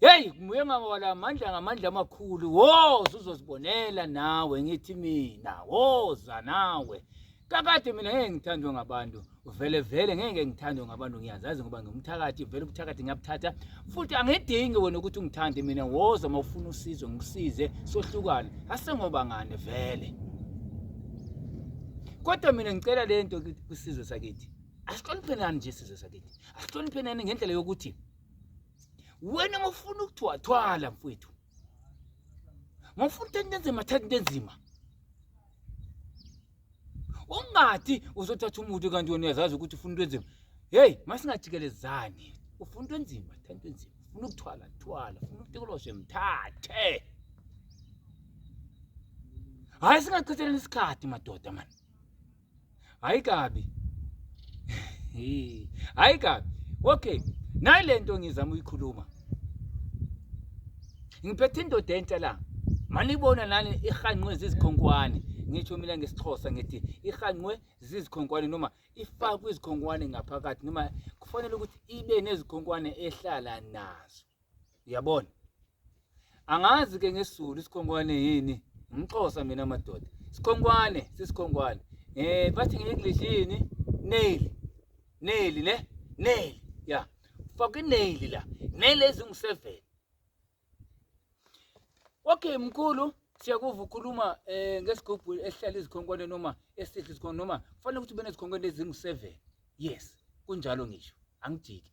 Hey nguye ngawala amandla ngamandla amakhulu woza uzozibonela nawe ngithi mina woza nawe kakade mina ngeke ngithandwe ngabantu vele vele ngeke ngithandwe ngabantu ngiyazazi ngoba ngumthakathi vele ubuthakathi ngiyabuthatha futhi angidingi wena ukuthi ungithande mina woza uma ufuna usizo ngikusize sohlukane asengoba ngane vele kodwa mina ngicela le nto kwisizwe sakithi asihloniphenani nje isizwe sakithi asihloniphenani ngendlela yokuthi wena mofuna ukuthwathwala mfwethu mofuna into enzima thatha into enzima ungathi uzothatha umuntu kanti wena uyazazi ukuthi ufuna into enzima heyi masingajikelezani ufuna into enzima thatha into enzima ufuna ukuthwala thwala ufuna ukutekoloshe mthathe hhayi singachitheleni isikhathi madoda mani hayi kabi hayi kabi okay nayi le nto ngizama uyikhuluma ngiphethe indoda entsha la manibona nani ihanqwe zizikhonkwane ngisho mina ngesixhosa ngithi ihanqwe zizikhonkwane noma ifakwe izikhonkwane ngaphakathi noma kufanele ukuthi ibe nezikhonkwane ehlala nazo uyabona angazi ke ngesizulu isikhonkwane yini ngixosa mina madoda sikhonkwane sisikhonkwane eh bathi nge-english yini nail nail ne nail ya faka inail la nail ezingu-seven okay mkhulu siyakuva ukhuluma eh ngesigubhu esihlala izikhonkwane noma esihle isikhonkwane noma kufanele ukuthi ube nezikhonkwane ezingu-seven yes kunjalo ngisho angijiki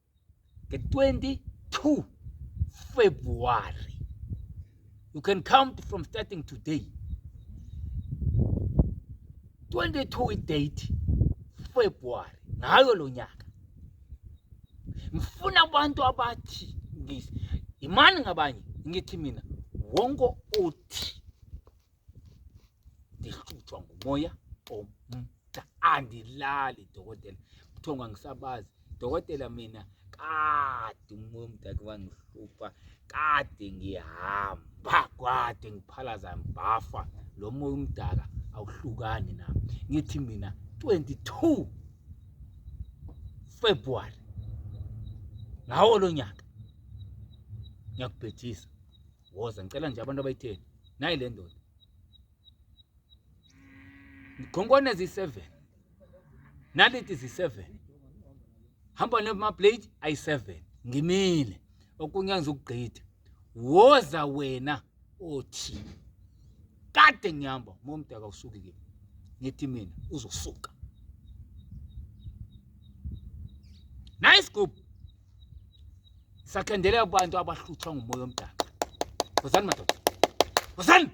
the 22 February. You can count from starting today. 22 date February ngayo lo nyaka. Ngifuna abantu abathi ngisi imani ngabanye ngithi mina wonke othi ndihlutshwa ngumoya omda andilali dokotela kuthiwa ngangisabazi dokotela mina kade umoya omda ke wangihlupha kade ngihamba kwade ngiphalaza mbafa lo moya umdaka awuhlukani na ngithi mina 22 February ngawo lo nyaka ngiyakubhejisa woza ngicela nje abantu abayitheni nayi le ndoda khonkwane ziyi-seven naliti ziyi-seven hamba nemaplate ayi-seven ngimile okunye ngizokugqitha woza wena othi kade ngihamba momdaka usuke kimi ngithi mina uzosuka nice group sakhendele abantu abahluthwa ngumoya omdaka wozani madoda wozani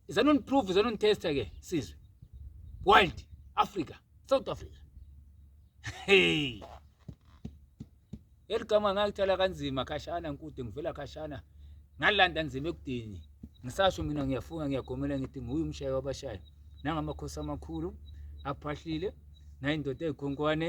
izani uniprove izani unitesta ke sizwe wild africa south africa hey eligama ngalithala kanzima khashana nkude ngivela khashana ngalanda nzima ekudini ngisasho mina ngiyafunga ngiyagomela ngithi nguye umshayi wabashayi nangamakhosi amakhulu aphahlile nayindoda ey'khonkwane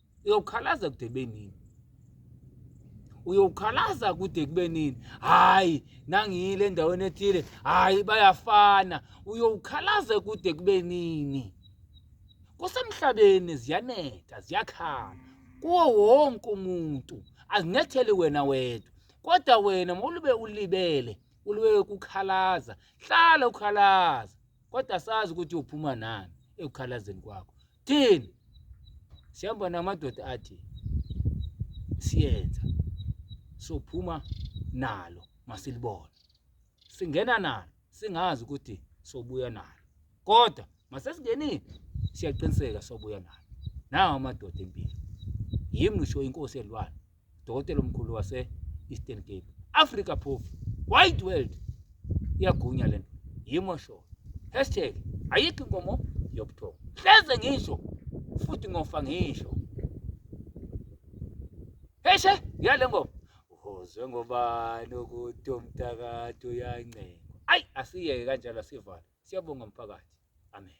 uyokhalaza kude benini uyokhalaza kude kube nini hayi nangiyile endaweni ethile hayi bayafana uyokhalaza kude kube nini kusemhlabeni ziyanetha ziyakhala kuwo wonke umuntu azinetheli wena wedwa kodwa wena mawulube ulibele uliwe kukhalaza hlala ukhalaza kodwa sazi ukuthi uphuma nani ekukhalazeni kwakho thini sihamba namadoda athi siyenza sophuma nalo masilibona singena nalo singazi ukuthi sobuya nalo kodwa masesingenile siyaqiniseka sobuya nalo nawo amadoda empilo yimi ngisho inkosi yelwane dokotela omkhulu wase-eastern cape africa phofu wide world iyagunya le nto yimo sho hashtag ayikho inkomo yobuthongo hleze ngisho futhi ngofa ngisho heshe ngiyale ngoba uzwe ngobani ukuthi umthakathi uyancengwa ayi asiyeke kanjalo asivale siyabonga mphakathi amen